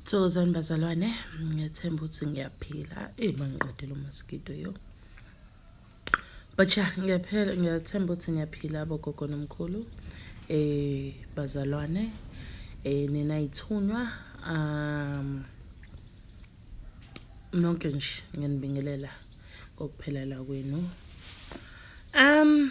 Thokozani bazalwane, ngethemba ukuthi ngiyaphila. Ey mangiqedile umaskito yo. But ya ngiyaphela ngiyathemba ukuthi ngiyaphila abogogo nomkhulu. Eh bazalwane, eh nina ithunywa um nonke nje ngiyanibingelela kokuphelela kwenu. Um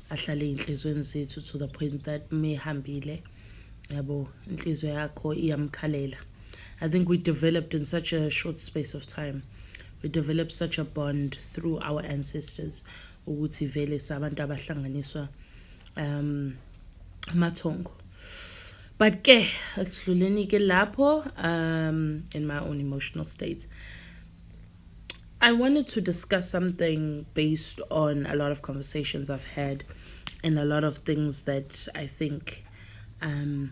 ahlale ey'nhlizweni zethu to the point that mehambile yabo inhliziyo yakho iyamkhalela i think we developed in such a short space of time we developed such a bond through our ancestors ukuthi vele sabantu abahlanganiswa um amathongo but ke asidluleni ke lapho um in my own emotional state I wanted to discuss something based on a lot of conversations I've had and a lot of things that I think um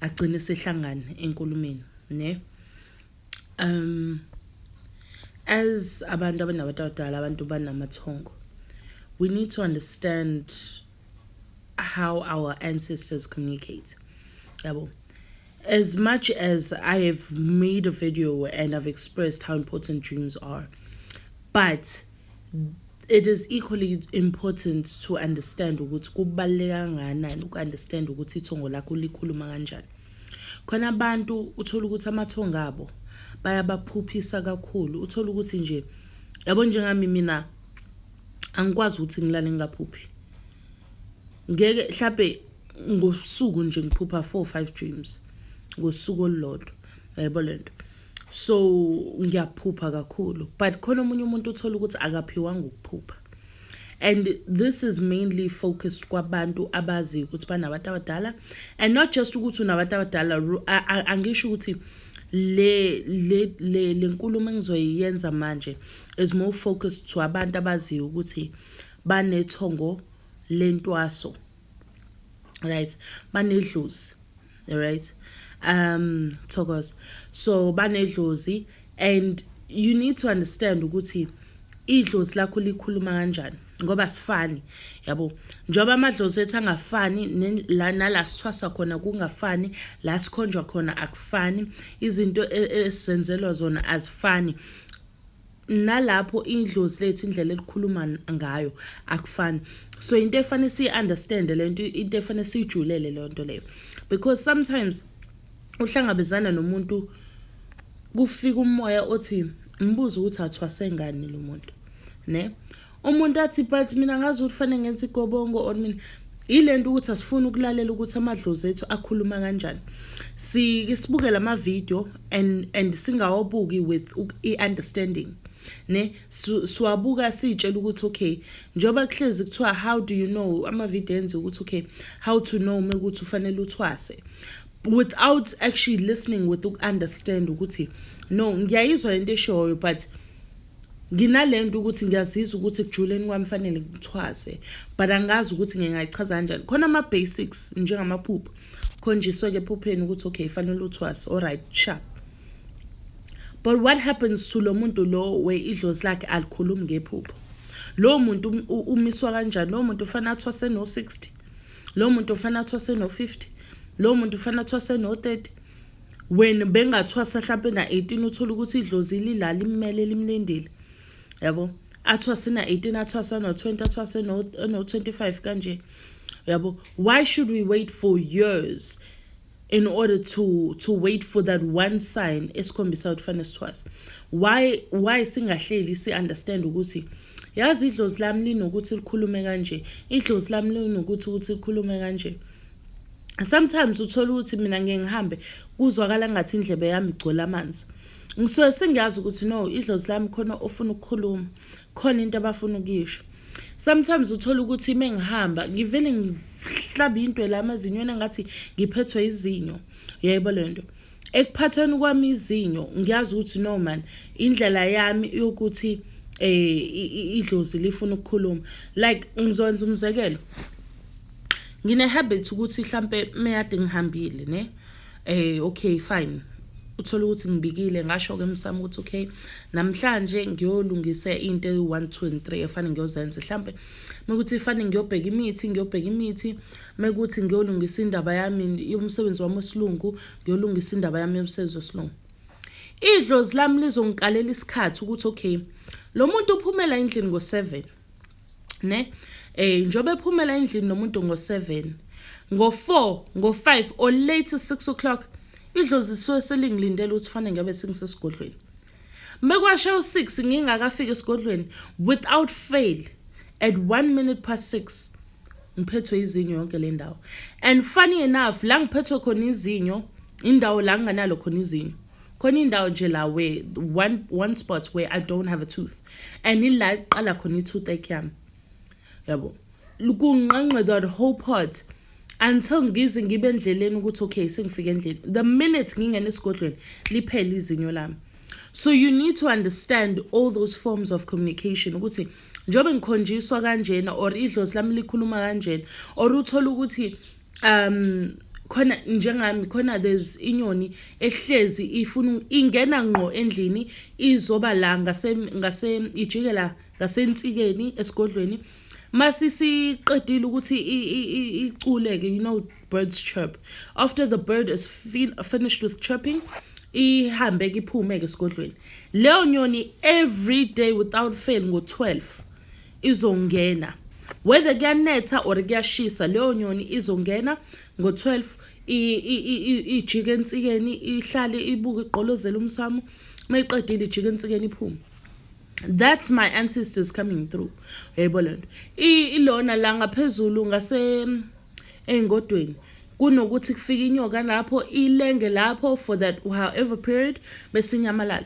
agcine sihlangana enkulumeni ne um as abantu abanabantu abadala abantu banamathongo we need to understand how our ancestors communicate yabo as much as i have made a video and i've expressed how important dreams are but it is equally important to understand ukuthi kubaluleka kangakanani uku-understand ukuthi ithongo lakho likhuluma kanjani khona abantu uthola ukuthi amathongo abo bayabaphuphisa kakhulu uthola ukuthi nje yabo njengami mina angikwazi ukuthi ngilale ngingaphuphi ngeke mhlawumbe ngosuku nje ngiphupha four five dreams ngosuku olulodwa yayebo le nto so ngiyaphupha kakhulu but khona omunye umuntu uthola ukuthi akaphiwanga ukuphupha and this is mainly focused kwabantu abaziyo ukuthi banabantu abadala and not just ukuthi unabantu abadala angisho ukuthi le le le lenkulumo engizoyenza manje is more focused to abantu abaziyo ukuthi banethongo lentwaso right banedlozi right um thokoza so banedlozi and you need to understand ukuthi idlozi lakho likhuluma kanjani ngoba sifani yabo njengoba amadlozi ethu angafani nala sithwasa khona kungafani la sikhonjwa khona akufani izinto e, esenzelwa zona azifani nalapho idlozi lethu indlela elikhuluma ngayo akufani so into efanele siyi-understand le nto into efanele siyijulele leyo nto leyo because sometimes uhlangabezana nomuntu kufika umoya othi mbuze ukuthi athwase ngani lo muntu ne umuntu athi but mina ngazi ukuthi fanele ngenze igobongo or mina yile nto ukuthi asifuni ukulalela ukuthi amadlozi ethu akhuluma kanjani sike sibuke la mavidiyo and, and singawabuki with i-understanding ne siwabuka siyitshela ukuthi okay njengoba kuhlezi kuthiwa how do you know amavidiyo enziwe ukuthi okay how to know uma ukuthi ufanele uthwase without actually listening with uku-understand ukuthi no ngiyayizwa lento eshoyo but nginalento ukuthi ngiyazizwa ukuthi ekujuleni kwami fanele ngithwase but angazi ukuthi ngingayichaza kanjani khona ama-basics njengamaphupho khonjiswe-ke ephupheni ukuthi okay fanele uthwase alright sharp but what happens to lo muntu lo we idlozi lakhe alikhulumi ngephupho lowo muntu um, umiswa kanjani lowo muntu ufanele athwase no-60 lowo muntu ufanele athwase no-50 lowo muntu ufanele athwase no-30 when bengathwasa hlampe na-18 uthole ukuthi idlozi lila limmele limlindile yabo athwase na-18 athwasa no-20 athwase no-25 kanje yabo why should we wait for years in order to to wait for that one sign esikhombisa ukuthi fanele sithwase why why singahleli si-understand ukuthi yazi idlozi lami linokuthi likhulume kanje idlozi lami linokuthi ukuthi likhulume kanje sometimes uthola ukuthi mina ngeke ngihambe kuzwakala ngathi indlebe yami igcwele amanzi ngisuke sengiyazi ukuthi no idlozi lami khona ofuna ukukhuluma khona into abafuna ukuyisho sometimes uthola ukuthi uma ngihamba ngivele ngihlabe into la amazinyweni ngathi ngiphethwe izinyo yebo le nto ekuphathweni kwami izinyo ngiyazi ukuthi no man indlela yami yokuthi eh idlozi lifuna ukukhuluma like ngizokwenza umzekelo ngine habit ukuthi mhlambe meyade ngihambile ne eh okay fine uthola ukuthi ngibikile ngasho ke msamo ukuthi okay namhlanje ngiyolungisa into eyi-1 2 and 3 efanele ngiyozenza mhlambe mekuthi ifanele ngiyobheka imithi ngiyobheka imithi mekuthi ngiyolungisa indaba yami yomsebenzi wami wesilungu ngiyolungisa indaba yami yomsebenzi wesilungu idlozi lami lizongikalela isikhathi ukuthi okay lo muntu uphumela endlini ngo-7 ne eh njobe ephumela endlini nomuntu ngo7 ngo4 ngo5 or late 6 o'clock idlozi suwe selingilindele ukuthi fanele ngabe singisesigodlweni mekwashe u6 ngingakafika esigodlweni without fail at 1 minute past 6 ngiphethwe izinyo yonke le ndawo and funny enough la ngiphethwe khona izinyo indawo la nginganalo khona izinyo khona indawo nje la where one, one spot where i don't have a tooth and ila iqala khona i-tooth ache yami yabo kunqanqe that whole part until ngize ngibe endleleni ukuthi okay sengifike endlini the minute ngingena esigodlweni liphele izinyo lami so you need to understand all those forms of communication ukuthi njengoba ngikhonjiswa kanjena or idlozi lami likhuluma kanjena or uthole ukuthi um khona njengami khona there's inyoni ehlezi ifuna ingena ngqo endlini izoba la ngase ngase ijikela ngasensikeni esigodlweni masisiqedile ukuthi iculeke you know birds chirp after the bird is fin finished with chirping ihambe ke iphume ke esigodlweni leyo nyoni every day without fail ngo-12 izongena whether kuyanetha or kuyashisa leyo nyoni izongena ngo-12 ijike ensikeni ihlale ibuke igqolozela umsamo uma iqedile ijike ensikeni iphume that's my ancestors coming through yebo le nto ilona la ngaphezulu ngase ey'ngodweni kunokuthi kufike inyoka lapho ilenge lapho for that however period besinyamalala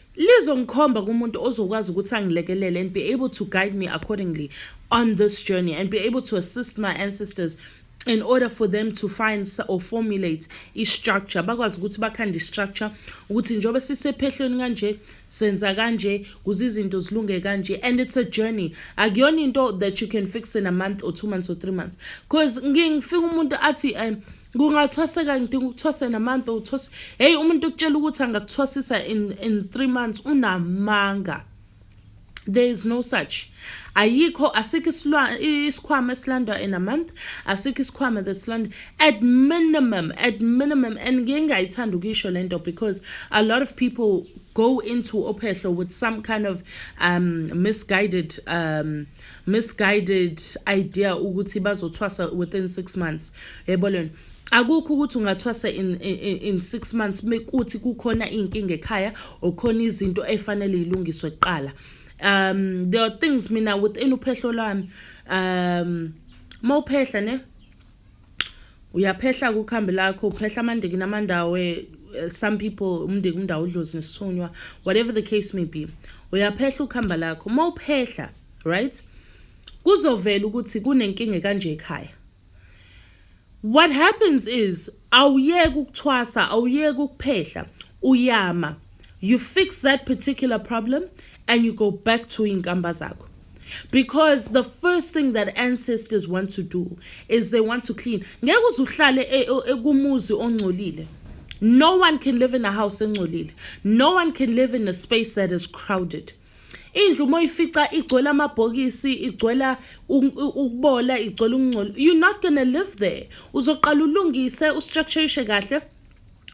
lizongikhomba kumuntu ozokwazi ukuthi angilekelele and be able to guide me accordingly on this journey and be able to assist my ancestors in order for them to find or formulate i-structure bakwazi ukuthi bakhande i-structure ukuthi njengoba sisephehlweni kanje senza kanje kuze izinto zilunge kanje and it's a journey akuyona into that you can fix in a month or two months or three months because ngifika umuntu athi um kungathwasa kanti ukuthwasa namanta uthwasa heyi umuntu ukutshela ukuthi angakuthwasisa in, in three months unamanga there is no such ayikho asikho isikhwama esilandwa in a month asikho isikhwama that silandwa at minimum at minimum and ngiye ngayithanda ukuyisho le nto because a lot of people go into ophehlo with some kind of um, misguided um, misguided idea ukuthi bazothwasa within 6 months yebo lona akukho ukuthi ungathwasa in, in, in six months mekuthi kukhona iy'nkinga ekhaya okhona izinto efanele yilungiswe kuqala um there are things mina within uphehlo lwami um mawuphehla ne uyaphehla kukhambi lakho uphehla amandiki namandawe eh, some people umndiki umndawo udlozi nesithunywa whatever the case may be uyaphehla ukuhamba lakho uma uphehla right kuzovela ukuthi kunenkinga ekanje ekhaya what happens is awuyeki ukuthwasa awuyeki ukuphehla uyama you fix that particular problem and you go back to inkamba zakho because the first thing that ancestors want to do is they want to clean ngeke uzuhlale e, e, kumuzi ongcolile no one can live in a house engcolile no one can live in a space that is crowded indlu uma uyifica igcwele amabhokisi igcwela ukubola igcwele ukungcola you're not gonna live there uzoqala ulungise ustructurishe kahle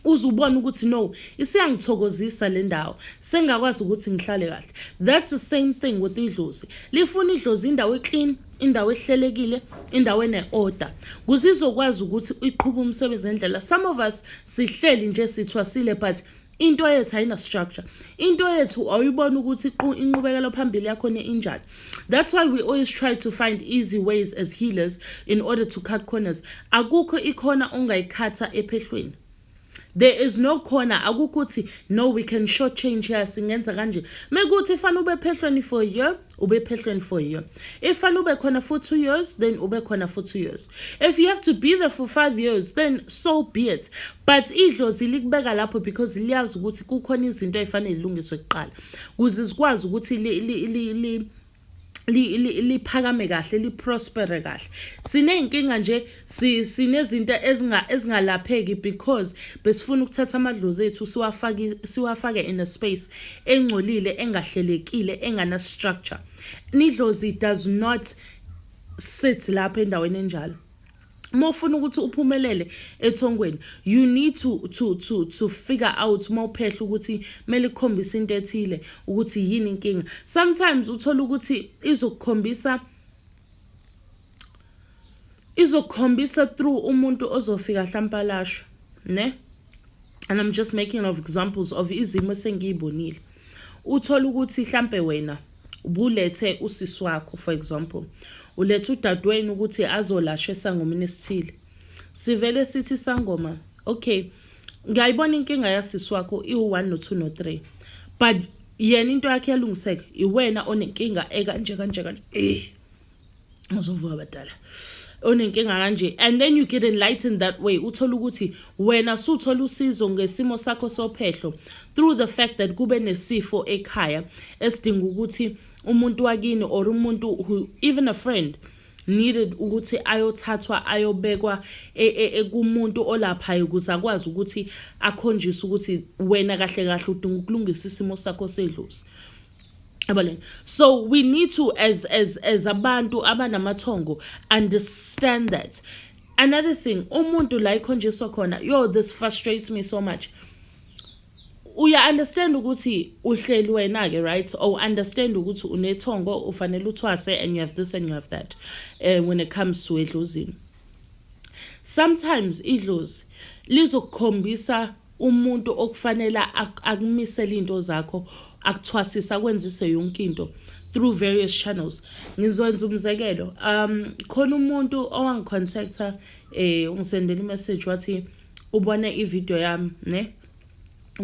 uze ubone ukuthi no isiyangithokozisa le ndawo sengakwazi ukuthi ngihlale kahle that's the same thing with idlozi lifuna idlozi indawo eclean indawo ehlelekile indawo ene-order kuze izokwazi ukuthi iqhuba umsebenzi ngendlela some of us sihleli nje sithwasile but into yethu ayina-structure into yethu awuyibona ukuthi inqubekelo phambili yakhona injani That's why we always try to find easy ways as healers in order to cut corners. Akukho ikhona ongayikhatha ephehlweni. There is no corner akukho ukuthi no we can short change here singenza kanje. Mekuthi fana ube phehlweni for a year, ube phehlweni for a year. If fana ube khona for 2 years, then ube khona for 2 years. If you have to be there for 5 years, then so be it. But idlozi likubeka lapho because liyazi ukuthi kukhona izinto ezifanele ilungiswe kuqala. kuze zikwazi ukuthi li, li, li, li liphakame kahle liprospere kahle siney'nkinga nje sinezinto ezingalapheki because besifuna ukuthatha amadlozi ethu siwafake in a space engcolile engahlelekile engana-structure nidlozi does not sit lapho endaweni enjalo uma ufuna ukuthi uphumelele ethongweni you need to to to to figure out uma uphehla ukuthi kumele ukhombise into ethile ukuthi yini inkinga sometimes uthola ukuthi izokukhombisa izokukhombisa through umuntu ozofika hlampalashwa ne and i'm just making of examples of izimo esengiyibonile uthole ukuthi hlampe wena ubulethe usisi wakho for example ulethe udadewenu ukuthi azolashwa esangomeni esithile sivele sithi isangoma okay ngiyayibona inkinga yasisi wakho iwu-one no-two no-three but yena into yakhe yalungiseka iwena onenkinga ekanje kanje kanje eh. uzovuka abadala onenkinga kanje and then you get enlightened that way uthole ukuthi wena suthola usizo ngesimo sakho sophehlo through the fact that kube nesifo ekhaya esidinga ukuthi umuntu wakini or umuntu who even a friend needed ukuthi ayothathwa ayobekwa e, e, e, kumuntu olaphayo ukuze akwazi ukuthi akhonjiswe ukuthi wena kahle kahle udinga ukulungisa isimo sakho sedlozi Abaleni. So we need to as as as abantu abanamathongo understand that. Another thing, umuntu la ikhonjiswa khona, yo this frustrates me so much. Uya understand ukuthi uhleli wena ke right or understand ukuthi unethongo ufanele uthwase and you have this and you have that uh, when it comes to edlozini. Sometimes idlozi lizokukhombisa umuntu okufanele akumisele into zakho akuthwasisa akwenzise yonke into through various channels ngizokwenza umzekelo um khona umuntu owangicontacta eh ungisendela imessage wathi ubona ivideo yami ne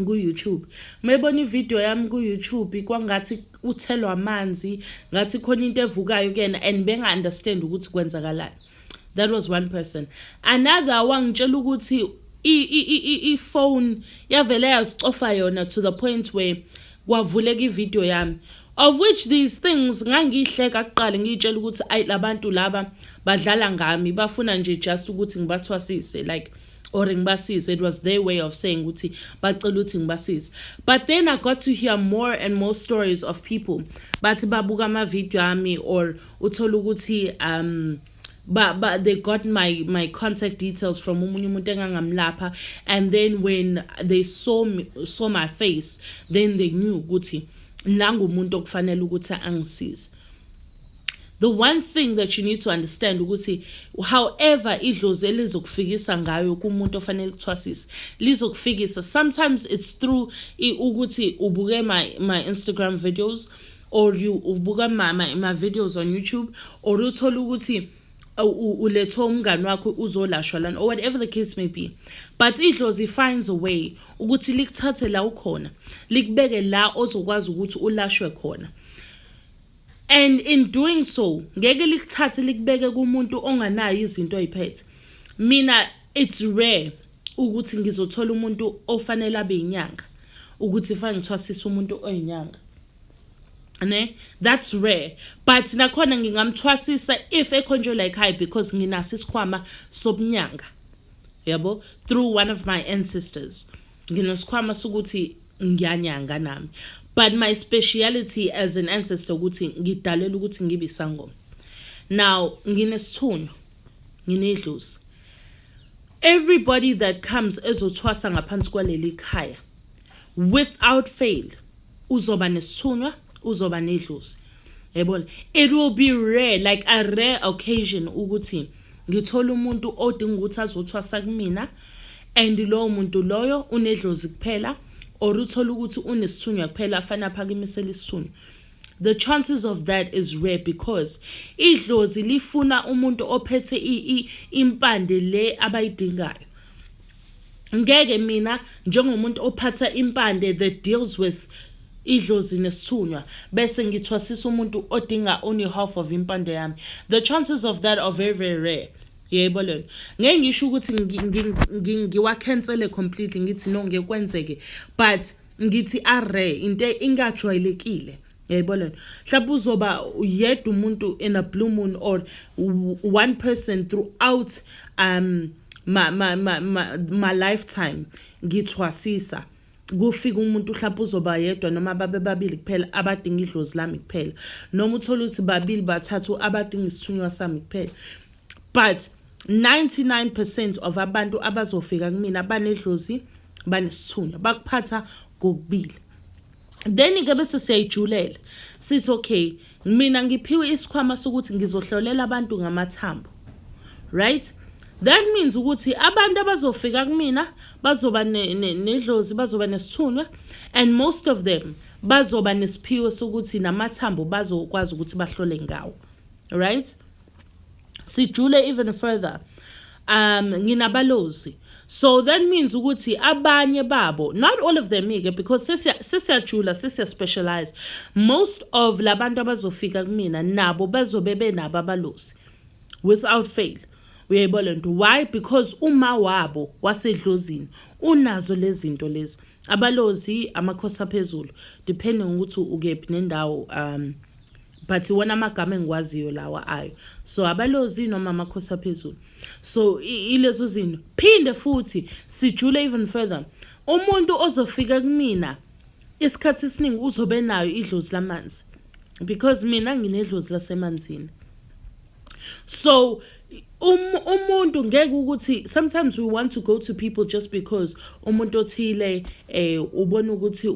ku-youtube mebona ivideo yami ku-youtube kwangathi uthelwa amanzi ngathi khona into evukayo kuyena and benga-understand ukuthi kwenzakalani that was one person another wangitshela ukuthi ifone yavele yazicofa yona to the point where kwavuleka ividiyo yami of which these things ngangiyihleka kuqala ngiyitshela ukuthi ayi labantu laba badlala ngami bafuna nje just ukuthi ngibathwasise like or ngibasize it was their way of saying ukuthi bacela ukuthi ngibasize but then i got to hear more and more stories of people bathi babuka ama-video ami or uthole ukuthi um but but they got my my contact details from omunye umuntu engangamlapha and then when they saw me, saw my face then they knew ukuthi nangumuntu okufanele ukuthi angisize the one thing that you need to understand ukuthi however idlozi elizokufikisa ngayo kumuntu ofanele kuthwasise lizokufikisa sometimes it's through ukuthi ubuke my my Instagram videos or you ubuka mama ema videos on YouTube or uthola ukuthi ulethwa umngani wakho uzolashwa lana or whatever the case may be but idlozi finds a way ukuthi likuthathe la ukhona likubeke la ozokwazi ukuthi ulashwe khona and in doing so ngeke likuthathe likubeke kumuntu onganayo izinto oyiphethe mina it's rare ukuthi ngizothola umuntu ofanele abe inyanga ukuthi fange ngithwasisa umuntu oyinyanga ne that's rare but nakhona ngingamthwasisa if ekhonjwe la ekhaya because nginaso isikhwama sobunyanga yabo through one of my ancestors nginesikhwama sokuthi ngiyanyanga nami but my speciality as an ancestor ukuthi ngidalela ukuthi ngibe isangoma now nginesithunywa nginedlozi everybody that comes ezothwasa ngaphansi kwaleli khaya without fail uzoba nesithunywa uzoba nedlozi yayibona it will be rare like a rare occasion ukuthi ngithola umuntu odinga ukuthi azothwasa kumina and lowo muntu loyo unedlozi kuphela or uthole ukuthi unesithunywa kuphela afanele aphakimisele isithunywa the chances of that is rare because idlozi lifuna umuntu ophethe impande le abayidingayo ngeke mina njengomuntu ophatha impande the deals with idlozi nesithunywa bese ngithwasisa umuntu odinga only half of impande yami the chances of that are very very rare yebo lona ngeke ngisho ukuthi ngiwacancele completely ngithi no ngeke kwenzeke but ngithi are into ingajwayelekile yayibona lento mhlawumbe uzoba yedwa umuntu in a blue moon or one person throughout um ma ma ma ma, ma lifetime ngithwasisa kufika umuntu mhlawumbe uzoba yedwa noma babe babili kuphela abadinga idlozi lami kuphela noma uthole ukuthi babili bathathu abadinga isithunywa sami kuphela but 99% of abantu abazofika kumina banedlozi banesithunywa bakuphatha kokubili then ke bese siyayijulela sithi okay mina ngiphiwe isikhwama sokuthi ngizohlolela abantu ngamathambo right that means ukuthi abantu abazofika kumina bazoba nedlozi bazoba nesithunywa and most of them bazoba nesiphiwo sokuthi namathambo bazokwazi ukuthi bahlole ngawo right sijule even further um nginabalozi so that means ukuthi abanye babo not all of them ke because sesiyajula sesiyaspecialize most of labantu abazofika kumina nabo bazobe benabo abalozi without fail uyayibona lento why because uma wabo wasedlozini unazo lezinto lezi abalozi amakhosi aphezulu depending ukuthi ukephi nendawo um but iwona amagama engiwaziyo lawa ayo so abalozi noma amakhosi aphezulu so ilezo zinto phinde futhi sijule even further umuntu ozofika kumina isikhathi esiningi uzobe nayo idlozi lamanzi because mina nginedlozi lasemanzini so um umuntu ngeke ukuthi sometimes we want to go to people just because umuntu othile eh ubona ukuthi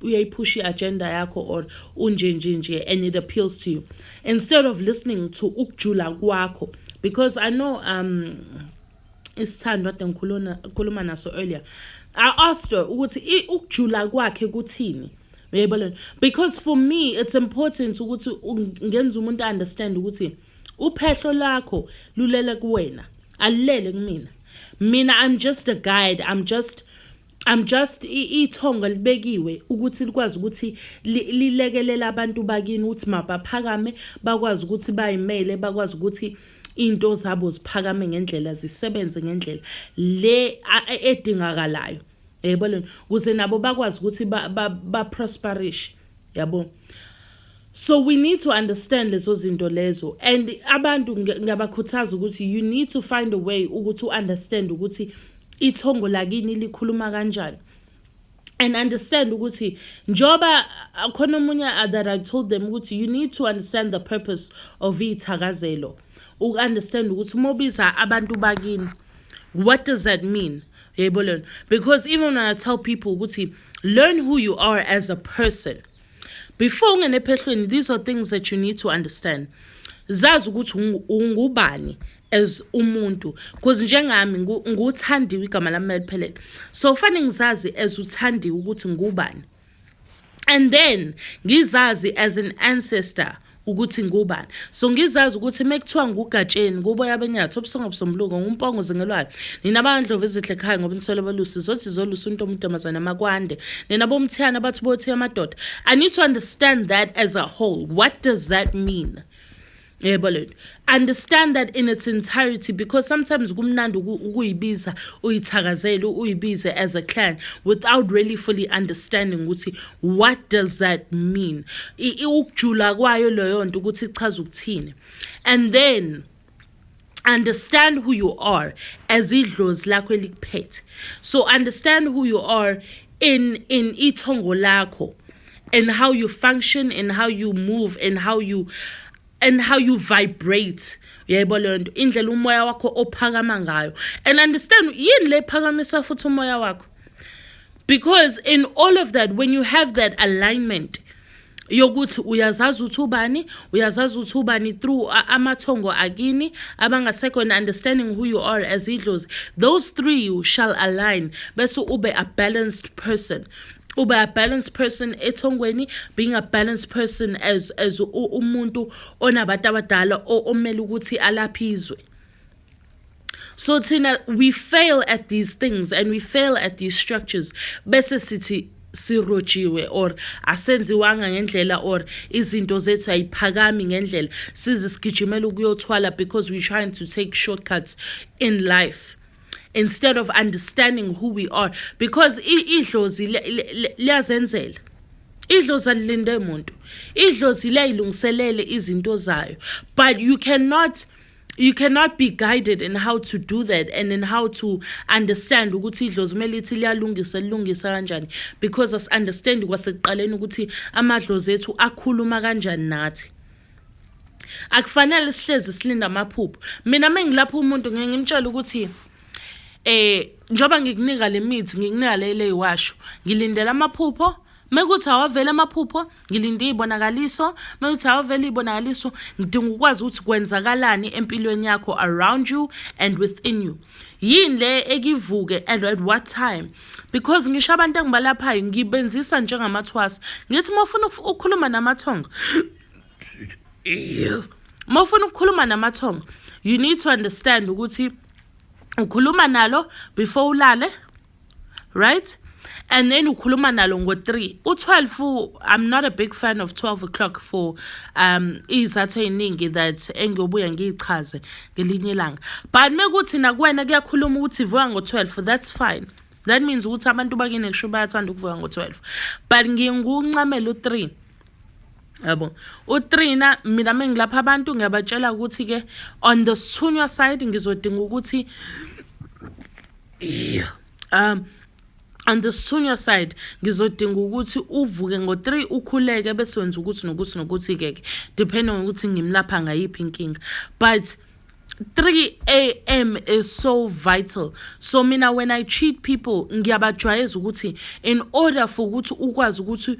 uyayiphusha i-agenda yakho or unje nje nje and it appeals to you instead of listening to ukujula kwakho because i know um isithandwa ade ngikhuluma khuluma naso earlier i asked her ukuthi ukujula kwakhe kuthini uyayibona lento because for me it's important ukuthi ngenza umuntu understand ukuthi uphehlo lakho lulele kuwena alilele kumina mina i'm just a guide i'm just I'm just ithongo elibekiwe ukuthi likwazi ukuthi lilekelela abantu bakini ukuthi mabaphakame bakwazi ukuthi bayimele bakwazi ukuthi into zabo ziphakame ngendlela zisebenze ngendlela le edingakalayo yebo lena kuze nabo bakwazi ukuthi ba, ba, ba prosperish yabo so we need to understand lezo zinto lezo and abantu ngiyabakhuthaza ukuthi you need to find a way ukuthi u-understand ukuthi ithongo lakini likhuluma kanjani and understand ukuthi njoba khona omunye that I told them ukuthi you need to understand the purpose of ithakazelo uku-understand ukuthi uma ubiza abantu bakini what does that mean yebo lona because even when i tell people ukuthi learn who you are as a person before ungene ephehlweni these are things that you need to understand zazi ukuthi ungubani as umuntu because njengami nguthandiwe igama lami maliphelele so fanele ngizazi as uthandiwe ukuthi ngubani and then ngizazi as an ancestor ukuthi ngubani so ngizazi ukuthi mekuthiwa ngugatsheni kuboya benyathi obusonga busombuluko ngumpongo zingelwayo nina bandlovu ezihle ekhaya ngoba nisole balusi zothi zolusa umuntu omuntombazane amakwande nina bomthiyana abathi bothi amadoda i need to understand that as a whole what does that mean yebo lento understand that in its entirety because sometimes kumnandi ukuyibiza uyithakazele uyibize as a clan without really fully understanding ukuthi what does that mean ukujula kwayo leyo nto ukuthi ichaza ukuthini and then understand who you are as idlozi lakho elikuphethe so understand who you are in in ithongo lakho and how you function and how you move and how you and how you vibrate yebo leyo nto indlela umoya wakho ophakama ngayo and understand yini le phakamisa futhi umoya wakho because in all of that when you have that alignment yokuthi uyazazi ukuthi ubani uyazazi ukuthi ubani through amathongo akini abangasekho and understanding who you are as idlozi those three you shall align bese ube a balanced person ube a balanced person ethongweni being a balanced person as as umuntu onabantu abadala omele ukuthi alaphizwe so thina we fail at these things and we fail at these structures bese sithi sirojiwe or asenziwanga ngendlela or izinto zethu ayiphakami ngendlela size sigijimela ukuyothwala because we trying to take shortcuts in life instead of understanding who we are because idlozi liyazenzela idlozi alilinde muntu idlozi liyayilungiselele izinto zayo but you cannot you cannot be guided in how to do that and in how to understand ukuthi idlozi kumele ithi liyalungisa lilungisa kanjani because as understand kwasekuqaleni ukuthi amadlozi ethu akhuluma kanjani nathi akufanele sihlezi silinda amaphupho mina mengilapha umuntu ngeke ngimtshele ukuthi eh njoba ngikunika lemithi ngikunika lele iwasho ngilindela amaphupho mekuthi awavela amaphupho ngilinde iy'bonakaliso mekuthi awuvele iy'bonakaliso ngidinga ukwazi ukuthi kwenzakalani empilweni yakho around you and within you yini le ekivuke and at what time because ngisho abantu engibalaphayo ngibenzisa njengamathwasa ngithi uma ufuna ukukhuluma namathongo uma ufuna ukukhuluma namathongo you need to understand ukuthi ukhuluma nalo before ulale right and then ukhuluma nalo ngo-3 u-12 i'm not a big fan of 12 o'clock for um iy'zathu ey'ningi that engiyobuya ngiy'chaze ngelinye ilanga but mekuthi nakuwena kuyakhuluma ukuthi vuka ngo-12 that's fine that means ukuthi abantu bakini kusho bayathanda ukuvuka ngo-12 but nginguncamela u-3 yabo utrina mina mengilapha abantu ngiyabatshela ukuthi ke on the sithunywa side ngizodinga ukuthi um on the senior side ngizodinga ukuthi uvuke ngo-3 ukhuleke bese wenza ukuthi nokuthi nokuthi-ke ke depending ngokuthi ngimlapha ngayiphi inkinga but 3 a.m. is so vital. So mina when I treat people ngiyabajwayeza ukuthi in order for ukuthi ukwazi ukuthi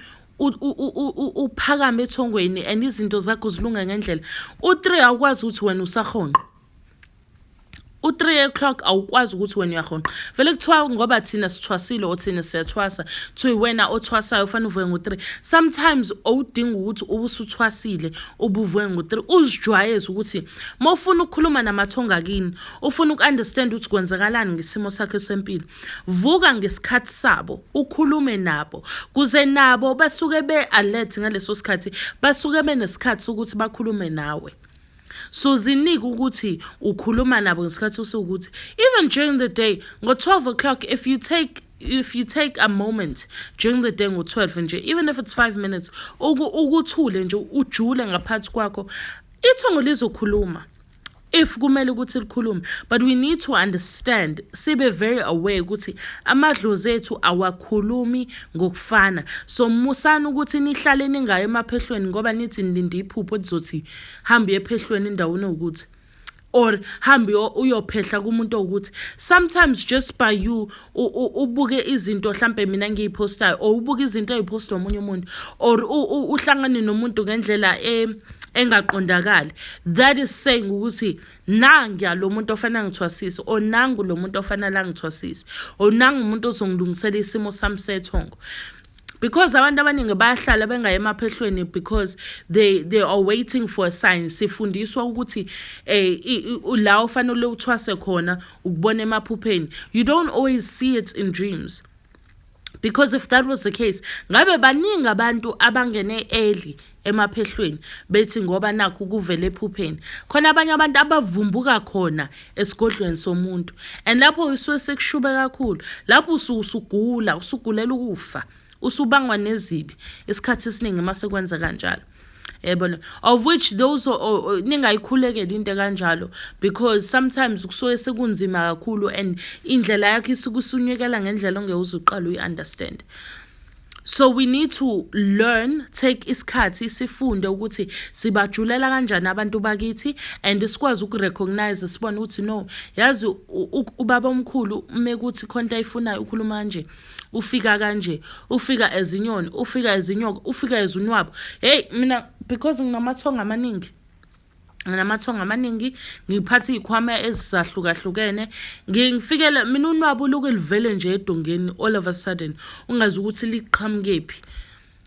uphakame ethongweni and izinto zakho zilunga ngendlela u-three awukwazi ukuthi wena usahonqa u-three o'clock awukwazi ukuthi wena uyahonqa vele kuthiwa ngoba thina sithwasile or thina siyathwasa kuthiwa wena othwasayo ufanele uvuke ngo-three sometimes owudinga ukuthi ube usuthwasile ubuvuke ngo-three uzijwayeze ukuthi uma ufuna ukukhuluma namathonga kini ufuna uku-understand ukuthi kwenzakalani ngesimo sakhe sempilo Vuka ngesikhathi sabo, ukhulume nabo, kuze nabo basuke be-alert ngaleso sikhathi, basuke benesikhathi sokuthi bakhulume nawe. So zinike ukuthi ukhuluma nabo ngesikhathi osukuthi even during the day ngo-12 o'clock if you take if you take a moment during the day ngo-12 nje even if it's 5 minutes ukuthule nje ujule ngaphansi kwakho ithongo lizokhuluma if kumele ukuthi likhulume but we need to understand sibe very aware ukuthi amadlozi ethu awakhulumi ngokufana so musani ukuthi nihlale ningayo emaphehlweni ngoba nithi nilinde iphupho elizothi hambe ephehlweni endaweni ukuthi or hambe uyophehla kumuntu ukuthi sometimes just by you ubuke izinto hlampe mina ngiyiphostayo or ubuke izinto eziphostwa omunye umuntu or uhlangane nomuntu ngendlela e engaqondakali that is saying ukuthi nangiya lo muntu ofanele angithwasise or nangu lo muntu ofanele angithwasise or nangu umuntu ozongilungisela isimo sami sethongo because abantu abaningi bayahlala bengaye emaphehlweni because they they are waiting for a sign sifundiswa ukuthi eh la ufanele uthwase khona ukubona emaphupheni you don't always see it in dreams because if that was the case ngabe baningi abantu abangene early emaphehlweni bethi ngoba nakho kuvele ephupheni khona abanye abantu abavumbuka khona esigodlweni somuntu and lapho isuke sekushube kakhulu lapho usugula usugulela ukufa usubangwa nezibi isikhathi esiningi uma sekwenza kanjalo yabona of which those ningayikhulekela into ekanjalo because sometimes kusuke sekunzima kakhulu and indlela yakho isuke usunyekela ngendlela ongeke uze uqale uyi-understand so we need to learn take isikhathi sifunde ukuthi sibajulela kanjani abantu bakithi and sikwazi ukurecognize sibone ukuthi no yazi ubaba omkhulu uma kuthi khonto ayifunayo ukhuluma kanje ufika kanje ufika ezinyoni ufika ezinyoka ufika ezunwabo hey mina because nginamathongo amaningi nginamathongo amaningi ngiphatha iy'khwama ezisahlukahlukene ngifikele mina unwabu luke livele nje edongeni all of a sudden ungazi ukuthi liqhamukephi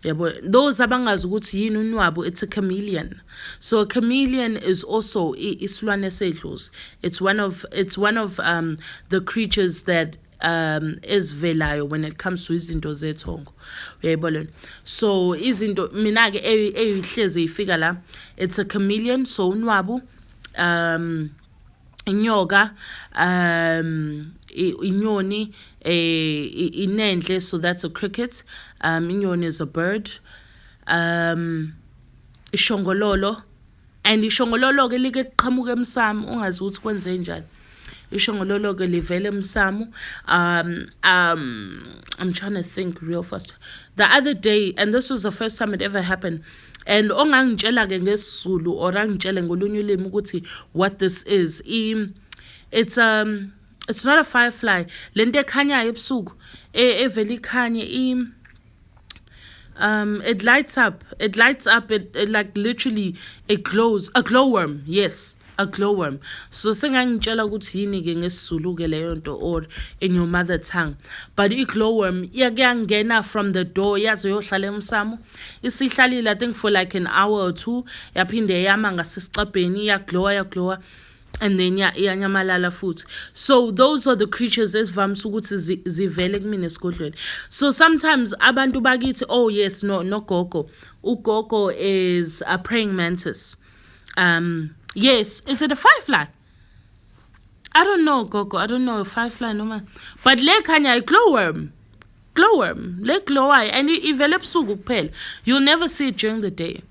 yabo those abangazi ukuthi yini unwabu it's a chameleon so a chameleon is also isilwane sedlozi it's one of it's one of um the creatures that um ezivelayo when it comes to izinto zethongo uyayibona lona so izinto mina ke eyihleze ifika la it's a chameleon so unwabu um inyoka um inyoni eh inenhle so that's a cricket um inyoni is a bird um ishongololo and ishongololo-ke like liqhamuka emsamo ungazi ukuthi kwenze njani ishongololo-ke livele emsamo um um i'm trying to think real fast the other day and this was the first time it ever happened and ongangitshela-ke ngesizulu or angitshele ngolunye ulimi ukuthi what this is I, it's um it's not a firefly le nto ekhanyayo ebusuku e, evele ikhanye um it lights up it lights up it, it like literally it glows a glowworm yes a glowworm so sengangitshela ukuthi yini ke ngesizulu ke leyo nto or in your mother tongue but i glowworm yakuyangena from the door yaze yohlala emsamo isihlalile i think for like an hour or two yaphinde yama ngasesicabheni yaglowa yaglowa and then ya iyanyamalala futhi so those are the creatures esivamise ukuthi zivele kumina esigodlweni so sometimes abantu bakithi oh yes no no gogo ugogo is a praying mantis um yes is it a firefly i don't know gogo i don't know firefly noma but le khanya i glowworm glowworm le glowayo and ivele ebusuku kuphela you'll never see it during the day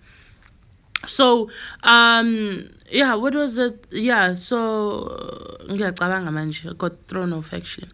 so um yeah what was it yeah so ngiyacabanga manje got thrown off actually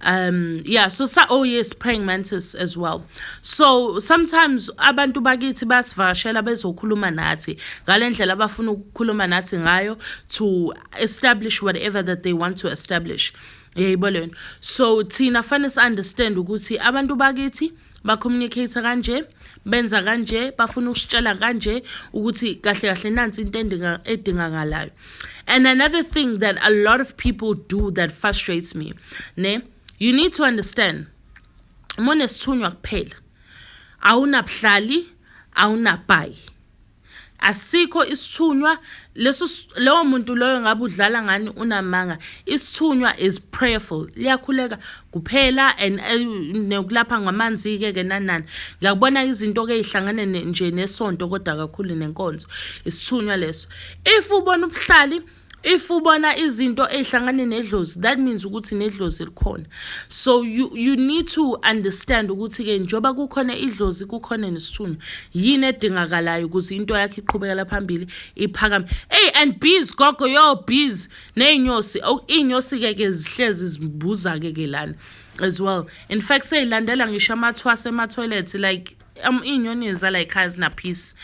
um yeah so sa oh yes praying mantis as well so sometimes abantu bakithi basivashela bezokhuluma nathi ngalendlela abafuna ukukhuluma nathi ngayo to establish whatever that they want to establish yayibona so thina fanele si understand ukuthi abantu bakithi bacommunicate kanje benza kanje bafuna ukusitshela kanje ukuthi kahle kahle nansi into edingakalayo and another thing that a lot of people do that frustrates me ne you need to understand uma unesithunywa kuphela awunabuhlali awunabhayi asikho isithunywa leso lowo muntu loyo ngabe udlala ngani unamanga isithunywa is prayerful liyakhuleka kuphela and eh, nokulapha ngamanzi ke ke nanani ngiyakubona izinto ke ihlangane nje nesonto kodwa kakhulu nenkonzo isithunywa leso if ubona ubuhlali if ubona izinto ezihlangane nedlozi that means ukuthi nedlozi likhona so you, you need to understand ukuthi-ke njengoba kukhona idlozi kukhona nesithunywa yini edingakalayo ukuze into yakhe iqhubekela phambili iphakame ey and bees gogo yo bees ney'nyosi oh, iy'nyosi-ke ke zihlezi zibuza-ke ke lana as well in fact seyilandela ngisho amathwase ematoilet like um, iy'nyoni zala yikhaya zinaphisi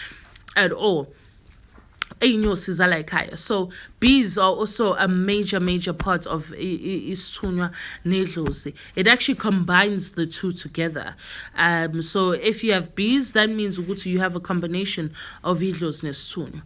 at all iy'nyosi zala ekhaya so bees are also a major major part of isithunywa nedlozi it actually combines the two together um so if you have bees that means ukuthi you have a combination of idlozi nesithunywa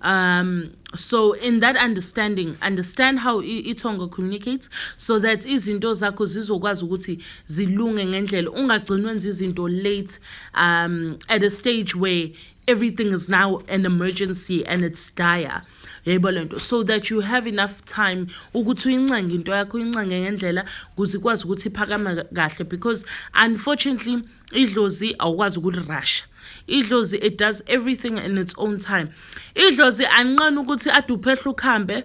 um so in that understanding understand how ithongo communicates so that izinto zakho zizokwazi ukuthi zilunge ngendlela ungagcini wenza izinto late um at a stage where everything is now an emergency and it's dire yebo lento so that you have enough time ukuthi uyincenge into yakho uyincenge ngendlela ukuze ikwazi ukuthi iphakame kahle because unfortunately idlozi awukwazi ukulirasha idlozi it does everything in its own time idlozi anqena ukuthi aduphehla ukuhambe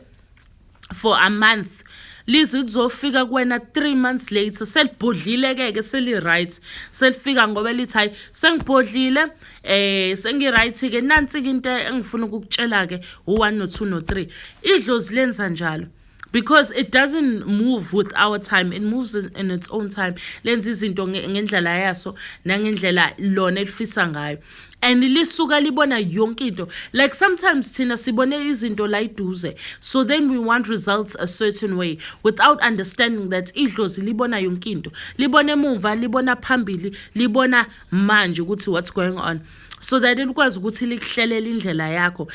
for a month lize lizofika kuwena three months later selibhodlile-ke ke seli-right selifika ngoba lithi hhayi sengibhodlile eh sengi-right-ke nansi-ke into engifuna ukukutshela-ke u-one no-two no-three idlozi lenza njalo because it doesn't move with our time it moves in, in its own time lenza izinto ngendlela yaso nangendlela lona elifisa ngayo and lisuka libona yonke into like sometimes thina sibone izinto la iduze so then we want results a certain way without understanding that idlozi libona yonke into libona emuva libona phambili libona manje ukuthi what's going on so that likwazi ukuthi likuhlelela indlela yakho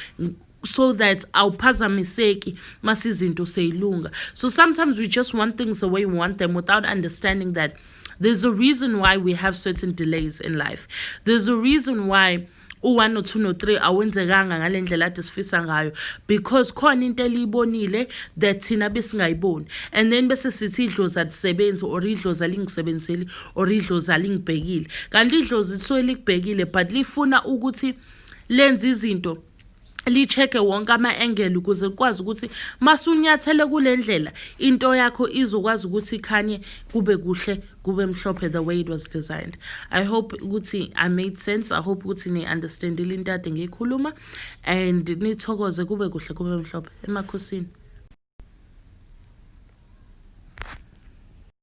so that awuphazamiseki mase izinto seyilunga so sometimes we just want things the way we want them without understanding that there's a reason why we have certain delays in life there's a reason why u-1 no-2 no-3 awenzekanga ngale ndlela ade sifisa ngayo because khona into eliyibonile that thina besingayiboni and then bese sithi idlozi alisebenzi or idlozi alingisebenzeli or idlozi alingibhekile kanti idlozi lisuke likubhekile but lifuna ukuthi lenze izinto licheke wonke ama-engeli ukuze kukwazi ukuthi masunyathele kule ndlela into yakho izokwazi ukuthi ikhanye kube kuhle kube mhlophe the way it was designed i hope ukuthi i made sense i hope ukuthi ni-understandile into ade ngiyikhuluma and nithokoze kube kuhle kube mhlophe emakhosini